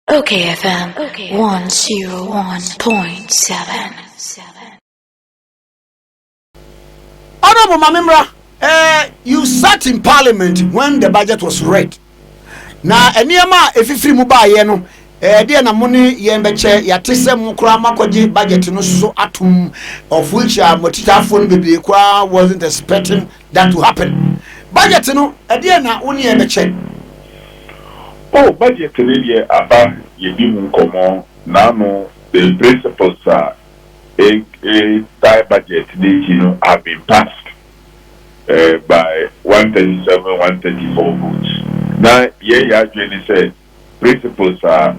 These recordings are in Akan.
Okay FM 101.7. Honorable Mamimra, uh, eh, you sat in parliament when the budget was read. Na nneɛma a efifiri mu baayɛ no, ɛdeɛ eh, na mo ne yɛn bɛkyɛ yɛate sɛ mo koraa makɔgye budget no so atom of which a uh, motitafoɔ no bebree koraa wasn't expecting than to happen. Budget no ɛdeɛn na wo ne yɛn bɛkyɛ? Oh budget no deɛ aba yɛdi ho nkɔmmɔ naano the principles a ɛtae budget no akyi no have been passed by one thirty seven, one thirty four votes na yɛn yɛn adwene ne sɛ Principles a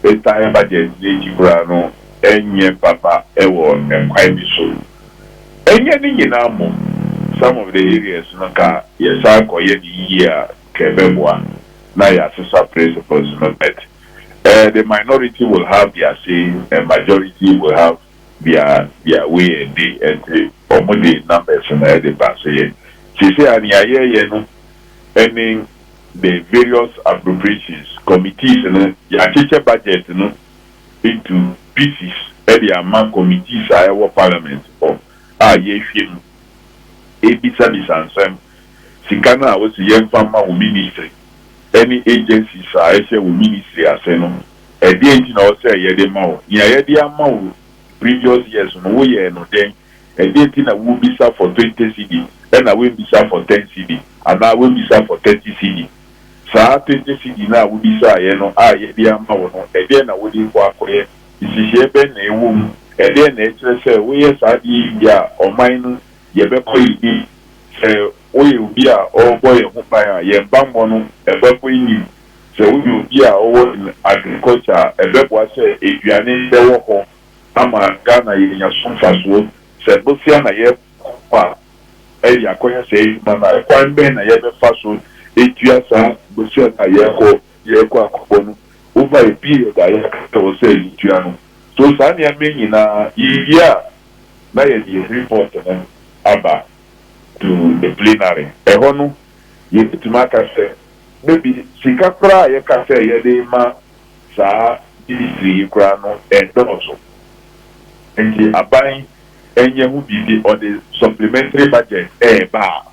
ɛtaa ba gyinagyina akyi koraa no nyɛ papa wɔ ɛkwan bi so. Ɛnyɛ ne nyinaa mmom, some of the areas no ka yɛsan kɔ yɛ no yie a nka ɛbɛboa na yɛasesa principles no but eh the minority will have their say and majority will have their their way and day ɛnti wɔn de numbers no de ba. Sɛ yɛ seesei a nea yɛyɛ no ne. the various appropriations committees no yɛakyekyɛ budget no into pieces de ama committees a ɛwɔ parliament hɔ a yɛhwɛ mu, ɛrebisabisa nsɛm, sika no a wɔse yɛmfa mma wo ministry ne agencies a ɛhyɛ wo ministry ase no ɛdeɛn nti na ɔsɛ yɛde ma wo, nea yɛde ama wo previous years no woyɛɛ no dɛn? Ɛdeɛn nti na wobisa for twenty cedi ɛna woanbisa for ten cedi anaa woanbisa for thirty cedi? Saa twenty cedi no a wobisaaeɛ no a yɛde ama wo no, ɛdeɛn na wode rekɔ akɔyɛ? Nhyehyɛeɛ bɛn na ɛwɔ mu? Ɛdeɛn na ɛkyerɛ sɛ woyɛ saa adeɛ yi wie a, ɔman no, yɛbɛkɔ yɛn anim? Sɛ woyɛ obi a ɔrebɔ yɛn ho ban a, yɛn bammɔ no, ɛbɛkɔ yɛn anim? Sɛ woyɛ obi a ɔwɔ in agriculture a, ɛbɛboa sɛ aduane bɛwɔ hɔ ama Ghana yɛanya so mfasoɔ. Sɛ bosea na yɛrekɔ a, ɛyɛ akɔyɛ saa adwuma no a, kwan bɛn na yɛbɛfa so atua saa bosea no a yɛrekɔ yɛrekɔ akɔbɔ no over a period a yɛaka sɛ ɛwɔ sɛ yɛtua no? So saa nneɛma yi nyina ara, yɛwie a, na yɛde yɛn report no aba to the plenary. Ɛhɔ no, yɛbɛtumi aka sɛ maybe sika koraa a yɛka sɛ yɛde rema saa ministry yi koraa no ɛdɔɔso nti aban nyɛ ho biribi ɔde supplementary budget ɛɛba a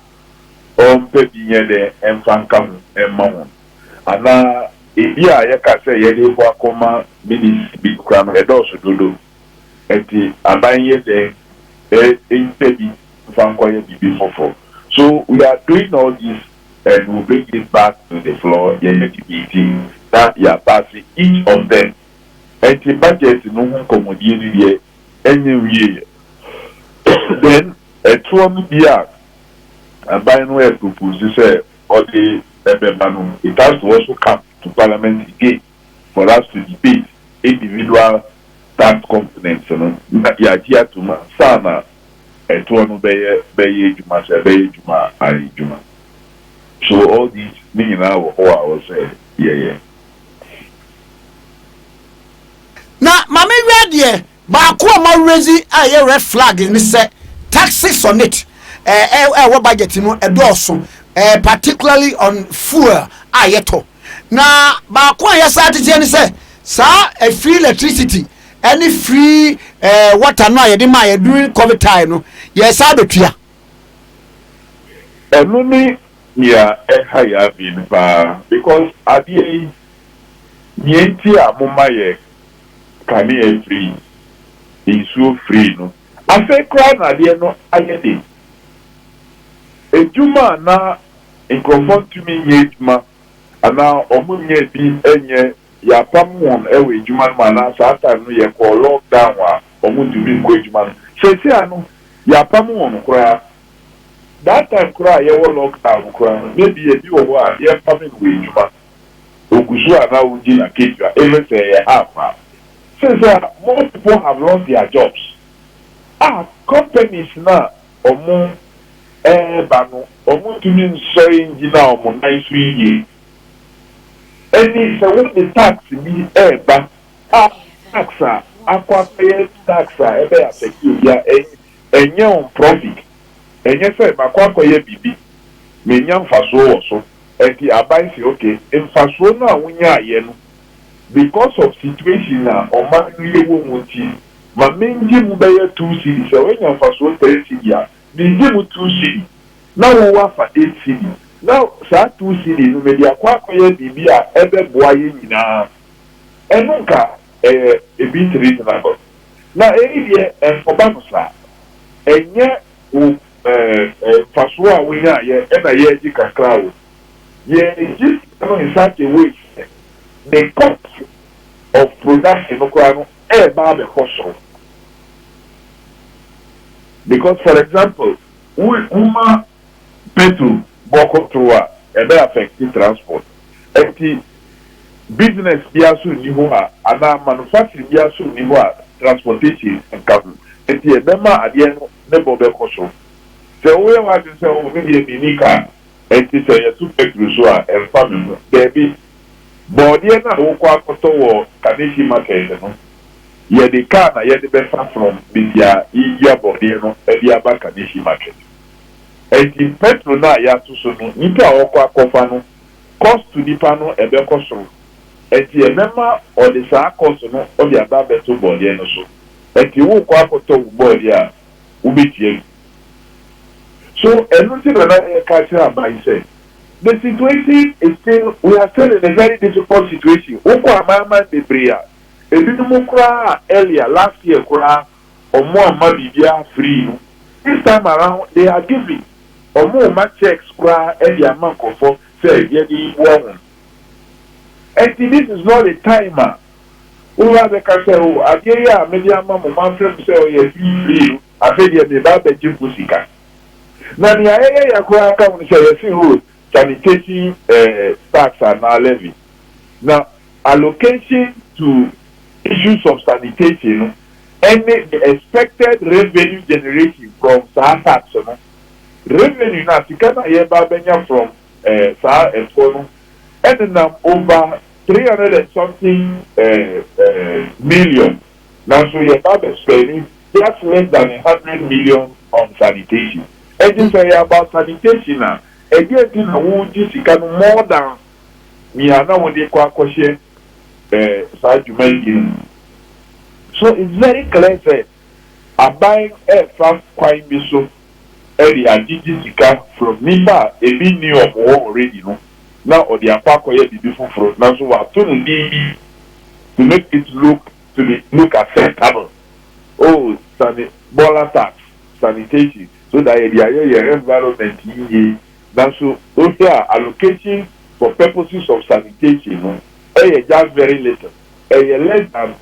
ɔmpɛ bi nyɛ dɛ mfa nka ho mma wɔn anaa ebi a yɛka sɛ yɛde kɔ akɔma ministry bi koraa no ɛdɔɔso dodo nti aban nyɛ dɛ mpɛ bi mfa nkɔyɛ biribi foforɔ so we are doing all these and will bring it back to the floor yɛyɛ ne meeting na yɛaba ase each of them ɛnti budget no ho nkɔmmɔdie no deɛ ɛnyɛ nwieɛ then ɛtoɔ no bi a aban no ɛɛpropose sɛ ɔde ɛbɛba no it has to also come to parliament again for us to debate individual tax components no na yɛagye atom ansa na ɛtoɔ no bɛyɛ bɛyɛ adwuma sɛ ɛbɛyɛ adwuma a ayɛ adwuma so all these ne nyinaa wɔ hɔ a ɛwɔ sɛ yɛyɛ. Na ma me wia deɛ baako a ma rezi a ɛyɛ red flag ne sɛ taxes on it ɛɛ ɛwɔ budget no ɛdɔɔso ɛɛ particularly on fuel a yɛtɔ na baako a yɛsa ateteɛ ne sɛ saa ɛfiri electricity ɛne free ɛɛ eh, water no a yɛde maa yɛ during covid time no yɛsan abɛtua. ɛno ne nea ɛha yɛ adwene paa because adeɛ yi nea nti a moma yɛ kanea free nsuo free no afei koraa na adeɛ no ayɛ de adwuma a na nkurɔfoɔ ntumi nyɛ adwuma anaa ɔmo nyɛɛ bi nyɛ yɛapam wɔn wɔ adwuma no mu anaa saa time no yɛkɔɔ lock down a ɔmo ntumi nkɔ adwuma no seesei ano yɛapam wɔn koraa that time koraa a yɛwɔ lock down no koraa no may be ebi wɔ hɔ a yɛmpame no wɔ adwuma ogu so a na ɔregye n'akatua even sɛ ɛyɛ half a seesei a more people have lost their jobs a companies no a wɔreba no, wɔntumi nsɔre ngyina wɔn nan so yiye. Ɛnne yi, sɛ wode tax bi reba a, tax a akɔ akɔyɛ tax a ɛbɛ affect obi a, ɛnyɛ wɔn profit. Ɛnyɛ sɛ makɔ akɔyɛ biribi, menya mfasoɔ wɔ so, ɛnti aban se okay, mfasoɔ no a wonyaeɛ no, because of situation a ɔman no yɛwɔ mu nti ma mengye mu bɛyɛ two cedi sɛ wanya mfasoɔ three cedi a mengye mu two cedi na wo woafa eight cedi na saa two cedi no mede akɔ akɔyɛ biribi a ɛbɛboa yɛn nyinaa ɛno nka ɛyɛ a bit reasonable na ɛyi deɛ ɛnkɔba no saa ɛnyɛ wo mfasoɔ a wonyaeɛ na yɛregye kakra a wɔ mu. Yɛ adesua no in such a way sɛ ne cost of production no koraa no reba abɛkɔ soro. Because for example, wo woma petrol bɔ kɔ soro a, ɛbɛ affect transport. Ɛnti business biara nso nni hɔ a anaa manufacturing biara nso nni hɔ a transportation nka ho. Ɛnti ɛbɛma adeɛ no ne bɔ bɛkɔ soro. Sɛ woyɛ w'adwene sɛ oh me deɛ menni car. Enti sɛ yɛto Petro so a, ɛmfa me ho. Dabi. Borɔdeɛ no a wokɔ akɔtɔ wɔ Kaneshie Market no, yɛde kaa na yɛde bɛfa from baabi a yedua borɔdeɛ no de aba Kaneshie Market. Enti Petro no a yɛato so no, nnipa a wɔkɔ akɔfa no, kɔsto nipa no ɛbɛkɔ soro. Enti ɛbɛma ɔde saa kɔsto no ɔde aba abɛto borɔdeɛ no so. Enti wokɔ akɔtɔ wo borɔdeɛ a, wobɛtua bi. So ɛno nti na na yɛka akyerɛ aban yi sɛ, The situation is still, we are still in a very difficult situation, wokɔ amanaman bebree a, ebinom koraa a earlier, last year koraa wɔamma biribiara free no, this time around they are giving, wɔrema cheques koraa de ama nkurɔfoɔ sɛ yɛde boa wɔn. Ɛnti this is not the time a woba abɛka sɛ oh adeɛ yi a mede ama mo, mafrɛ mo sɛ ɔyɛ free free no, Afei deɛ mereba abɛgye mo sika. Na nea ɛyɛ ya koraa ka ho ne sɛ, yɛse ho sanitation tax anaa levy. Na allocation to issues of sanitation no ne the expected revenue generation from saa tax no. Revenue no a, sika no a yɛreba abɛnya from saa ɛtoɔ no ɛnenam over three hundred and something million. Nanso yɛ ba bɛ spɛndi just less than a hundred million on sanitation. Ɛnti sɛ ɛyɛ about sanitation a, ɛdeɛn nti na wo gye sika no more than nea na wode kɔ akɔhyɛ eh saa dwumadie no mu. So it's very clear sɛ aban ɛɛfa kwan bi so de agyegye sika from nnipa a ebi nni wɔn hɔ already no na ɔde akɔ akɔyɛ biribi foforo nanso wɔato no din bi to make it look to be look acceptable oh sani Bola tax, sanitation so that yɛde ayɛ yɛn environment yiye nanso wohwɛ a allocation for purposes of sanitation no yɛ just very little ɛyɛ less than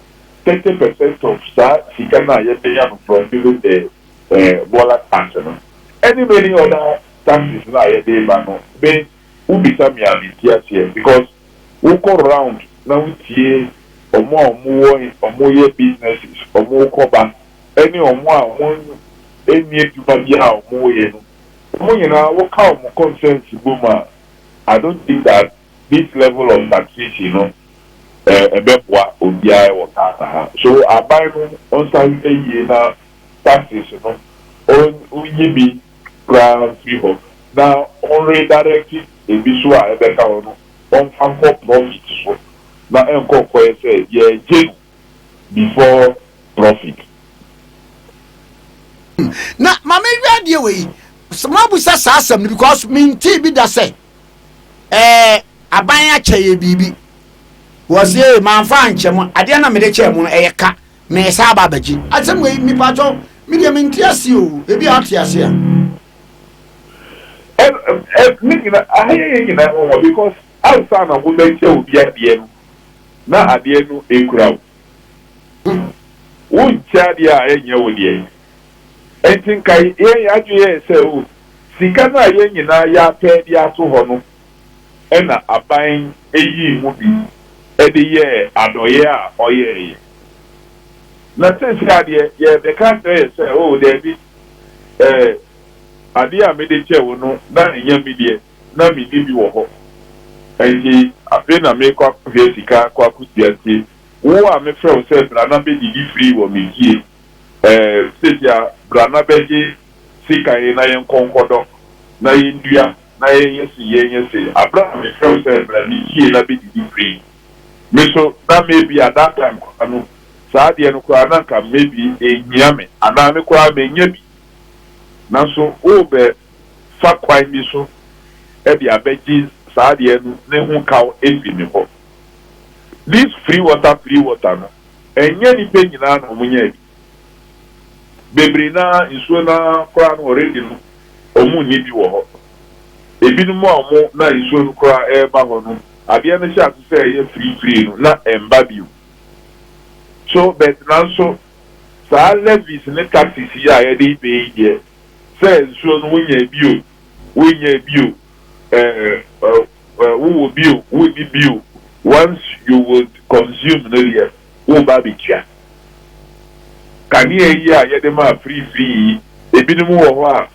thirty percent of saa sika no a yɛbenya no from even the eh, Bola Taxi no ɛne many other taxis no a yɛde ba no me wo bisa me a me nte aseɛ because wo kɔ round na wo tie ɔmo a ɔmo wɔ ɔmo yɛ businesses ɔmo kɔ ba ɛne ɔmo a ɔmo nni adwuma biara a ɔmo yɛ no ɔmo nyinaa wo ka ɔmo concerns bɔ mu a I don't think that this level of taxation no eh ɛbɛboa obiara wɔ Ghana ha so aban no ɔnsa hwɛ yie na taxes no onnyi bi koraa mfiri hɔ na ɔnredirect ebi so a ɛbɛka hɔ no ɔmfa nkɔ profit so na ɛnkɔ nkɔyɛ sɛ yɛregye no before profit. Na ma me nhwɛ adeɛ wɔ yi moabusa saa asɛm no because me ntee bi da sɛ ɛɛ aban akyɛ yɛ biribi wɔse ee manfa ankyɛ mo adeɛ na mede kyɛɛ mo no ɛyɛ ka Meresan aba abɛgye asɛm wei me paatwɔ me deɛ mente aseɛ o ebi a ate aseɛ a. Ɛn ɛ ne nyina aha yɛ yɛn nyinaa nwanwa because ansa na wo bɛkyɛ obi adeɛ no na adeɛ no ekura wo wo nkyɛ adeɛ a ɛnyɛ wo deɛ ɛnti nka yɛn yɛn adwene yɛ sɛ o sika no a yɛn nyinaa yɛapɛ de ato hɔ no na aban yii mu bi de yɛɛ adɔeɛ a ɔyɛɛ yɛn. Na seesei adeɛ yɛrebɛka akyerɛ yɛn sɛ, Oo, daabi, ɛɛ, adeɛ a mede kyɛɛ wo no, na ɛnyɛ me deɛ, na menni bi wɔ hɔ, ɛnti afei na merekɔ akɔhwɛ sika akɔ akɔtua, nti wo a mefrɛ wo sɛ bra na bɛdidi free wɔ me fie, ɛɛ, seesei a bra na bɛgye sika yi na yɛnkɔ nkɔdɔ na yɛndua. na yɛnyɛ se yɛnyɛ se aberɛ a mefrɛ wo sɛ bra ne fie na bɛdidi free me nso na maybe at that time koraa no saa adeɛ no koraa na nka maybe ɛnhia me anaa me koraa manya bi nanso worebɛ fa kwan bi so de abɛgye saa adeɛ no ne ho kaw afiri me hɔ this free water free water no ɛnyɛ nnipa nyinaa na wɔnyaa bi. Bebree no ara, nsuo no ara koraa no already no, wɔnni bi wɔ hɔ. Ebinom a wɔn na nsuo no koraa reba hɔ no, adeɛ no hyɛ ase sɛ ɛyɛ firifirii no, na ɛmba bio. So, but nanso, saa levies ne taxes yi a yɛde reba yi deɛ, sɛ nsuo no wonyaa bi o, wonnyaa bi o, eh, eh, wowɔ bi o, wonni bi o, once you would consume no deɛ, woreba abɛtua kanea yi a yɛde maa firifiri yi. Ebinom wɔ hɔ a,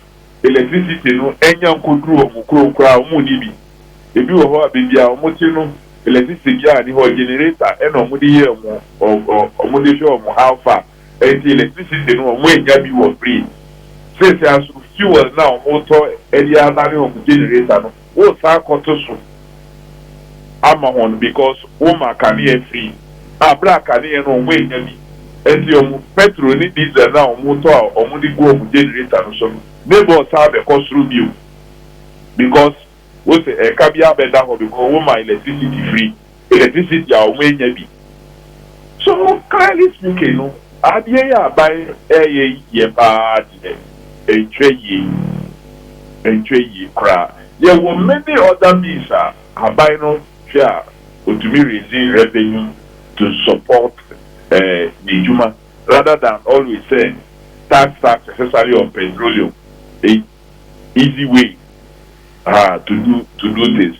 electricity no nnya nkɔduru wɔn kurom koraa, wɔnni bi. Ebi wɔ hɔ a, baabi a wɔte no, electricity biara nni hɔ, generator na wɔde yɛ wɔn, wɔde hwɛ wɔn alfa. Enti electricity no, wɔnnya bi wɔ free. Seesei nso, fuel no a wɔretɔ de adane wɔn generator no, Wo saa kɔto so ama hɔn because wo ma kanea fii a ber a kanea no ɔmo ennya bi ntsi ɔmo petrol ne diesel no a ɔmo tɔ a ɔmo de gu ɔmo generator no so no ne bɔ saa bɛ kɔ soro bio because wo se ɛka biara bɛ da hɔ because wo ma electricity free. electricity a ɔmo enya bi. So clearly speaking no adeɛ yi a aban ɛɛyɛ yi deɛ paa deɛ ɛnkyerɛ yie, ɛnkyerɛ yie koraa. Yɛwɔ many other means a aban no hwɛ a ɔtumi raise revenue to support n'adwuma rather than always sɛ tax tax especially on petroleum, easy way to do to do things.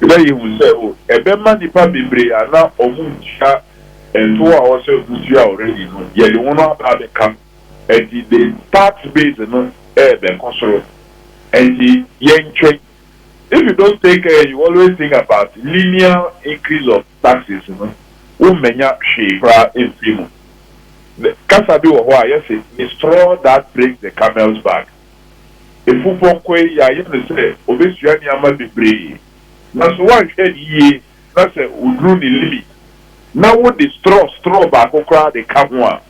na yehu sɛ ɛbɛma nnipa bebree a na wɔntua ntow a ɛwɔ sɛ wotua already no, yɛde wɔn aba abɛka. Enti the tax base no rebɛkɔ soro. Enti yɛntwɛn. If you don't take care and you always think about linear increase of taxes no, wommenya hwee koraa mfi mu. Kasa bi wɔ hɔ a yɛse, Straw that breaks the camel's back. Afupɔnkɔ yi, yɛayɛ no sɛ obesua nneɛma bebree, nanso woanhwɛ no yiye na sɛ oduru ne limit na wode straw straw baako koraa de ka ho a,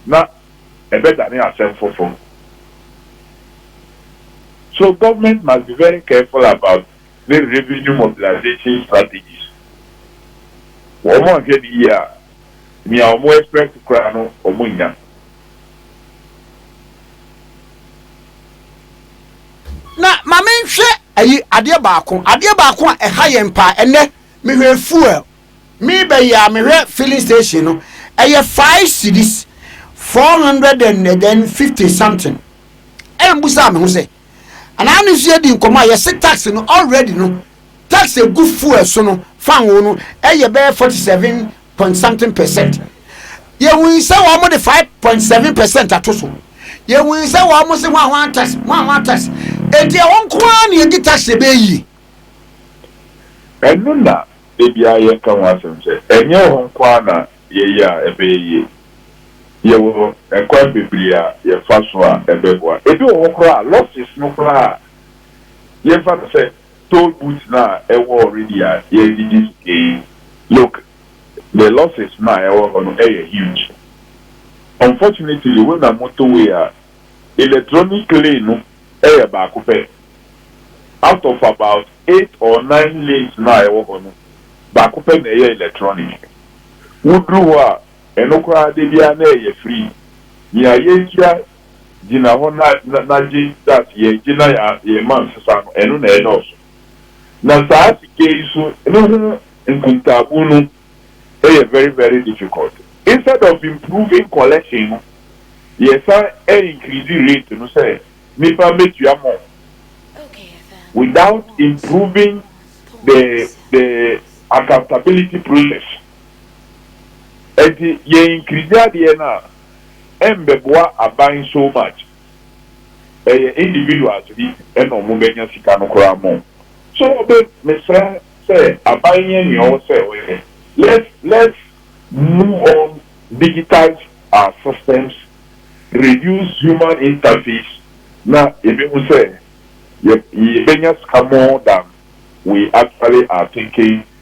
na ɛbɛdane asɛm foforo. So government must be very careful about ne revenue mobilization strategies. Wɔanhwɛ no yiye a, nea wɔn expect koraa no, wɔnnya. Na ma menhwɛ ayi adeɛ baako, adeɛ baako a ɛha yɛn paa ɛnnɛ, mehwɛ fuel, merebɛ yi a mehwɛ filling station no, ɛyɛ five cedis, four hundred and then fifty something, ɛna mebusaa me ho sɛ, anaa ne nso yɛdi nkɔmɔ a yɛse tax no already no, tax egu fuel so no, fan wo no, ɛyɛ bɛyɛ forty seven point something percent yɛwui sɛ wɔn de five point seven percent ato so yɛwui sɛ wɔn se ho a wɔn tax ho a wɔn tax eti ɛwɔ nko ara na yɛdi tax yɛ bɛyɛ yie. ɛno na ebi a yɛka ho asɛm sɛ ɛnyɛ wɔn nko ara na yɛyɛ a ɛbɛyɛ yie yɛwɔ ɛkwan bebree a yɛfa so a ɛbɛboa ebi wɔ hɔ koraa losses no koraa yɛmfa no sɛ Toll booth no a ɛwɔ hɔ redi aseɛ redidi so kee. Look, the losses no a ɛwɔ hɔ no ɛyɛ huge. Unfortunately wo nam motorway a, electronic lane no ɛyɛ baako pɛ. Out of about eight or nine lanes no a ɛwɔ hɔ no, baako pɛ na ɛyɛ electronic. Woduru hɔ a, ɛno koraa da biara na ɛyɛ free. Nea yɛtua gyina hɔ na na na gye that yɛn gye na yɛn yɛn mma nsesa no ɛno na ɛdɔɔso na saa sika yi so ne ho nkuntaabu no yɛ very very difficult instead of improving collection no yɛ san increase rate no sɛ nipa mɛtua more without improving the the accountability process ɛnti yɛn increase adeɛ no a ɛmbɛboa aban so much ɛyɛ individuals bi ɛna ɔmo bɛnya sika no koraa more so ɔbɛ mesrɛ sɛ aban nyɛ nea ɔwɔ sɛ ɔyɛ let's let's move on digitize our systems reduce human interface na yɛbɛhu sɛ yɛbɛnya sika more than we actually are thinking